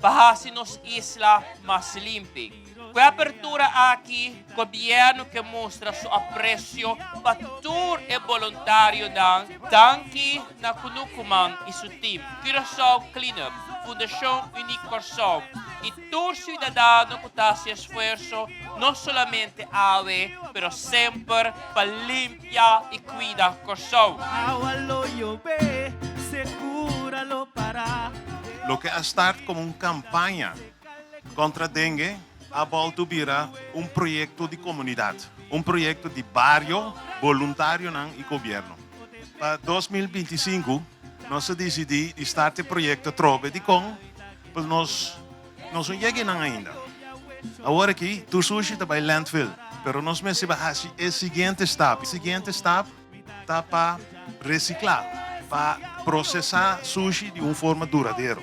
pa hasi nos isla mas limpi. Ku e apertura aki Gobièrnu ke mustra su apresio pa tur e boluntarionan danki na Kunukuman i su tim, Curaçao Cleanup, Fundashon Uniek Kòrsou i tur siudadano ku ta hasi esfuerso no solamente awe pero semper pa limpi. Limpiá i kuida Kòrsou. Loke a start komo un kampaña kontra denge a bòltu bira un proyekto di komunidat, un proyekto di bario, boluntarionan i gobièrnu. Pa dos mil binti i sinku nos a disidí di start e proyekto atrobe. Dikon? Pasobra nos Nos no yega inan ainda. Awor aki, tur sushi ta bai landfill, pero nos mester pa hasi e siguiente stap. E siguiente stap ta pa recicla, pa procesa sushi di un forma duradero.